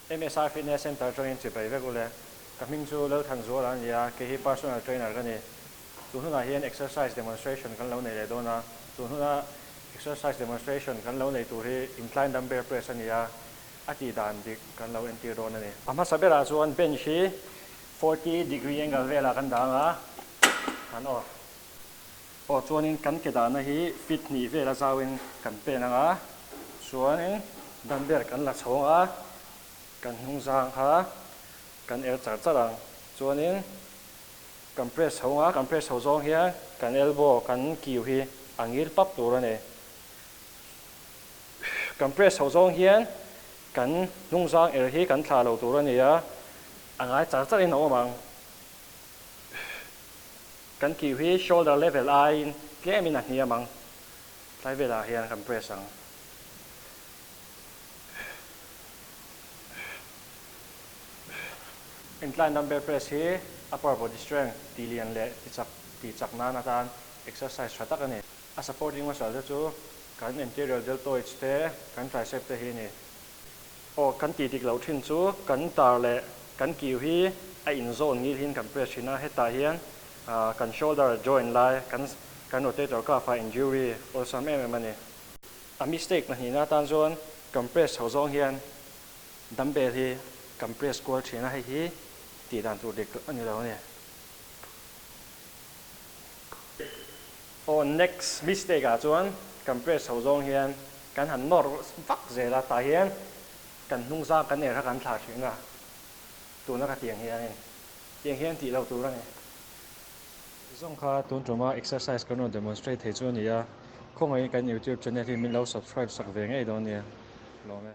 MSR Fitness Centre atangin chhe bai vek u le. Ka hming chu Lalthan Zuala a ni a, kei hi personal trainer ka ni. Chu hnunah hian exercise demonstration kan lo nei leh dawn a. Chu hnuna exercise demonstration kan lo nei tur hi incline dumbbell press a ni a, a tih dan bik kan lo entir dawn a ni. A hmasa berah chuan bench hi forty degree angle velah kan dang a, han aw. Aw chuanin kan ke dahna hi fit hnih vela zauin kan pen anga chuanin dumbbell kan la chhawng a, kan hnung zang kha kan el char char ang chuanin kan press chho nga kan press chho zawng hian kan elbow kan kiu hi a ngil pap tur a ni. Kan press chho zawng hian kan hnung zang er hi kan thla lo tur a ni a, a ngai char char in a awm ang. Kan kiu hi shoulder level aiin tlemin a hniam ang. Tlai velah hian kan press ang. Incline dumbbell press hi upper body strength, tilian leh tichak, tihchak nan atan exercise tha tak a ni. A supporting muscle te chu kan anterior deltoids te, kan tricep te hi a ni. Aw, kan ti dik loh thin chu kan tar leh kan kiu hi a inzawn ngil hian kan press thin a, hetah hian kan shoulder joint lai kan kan rotator cuff a injury awlsam em em a ni. A mistake pahnih na tan chuan kan press chho zawng hian dumbbell hi kan press kual thin a, hei hi tih dan tur dik a ni lo a ni. Aw next mistake ah chuan kan press ho zawng hian kan han nawr vak zel a, tah hian kan hnungzang kan er kha kan thlah thin a, tuna ka ti ang hianin tiang hian tih lo tur a ni. Zawng kha tun tuma exercise kan rawn demonstrate thei chu a ni a, khawngaih in kan youtube channel hi min lo subscribe sak ve ngei dawn nia, hlawm e.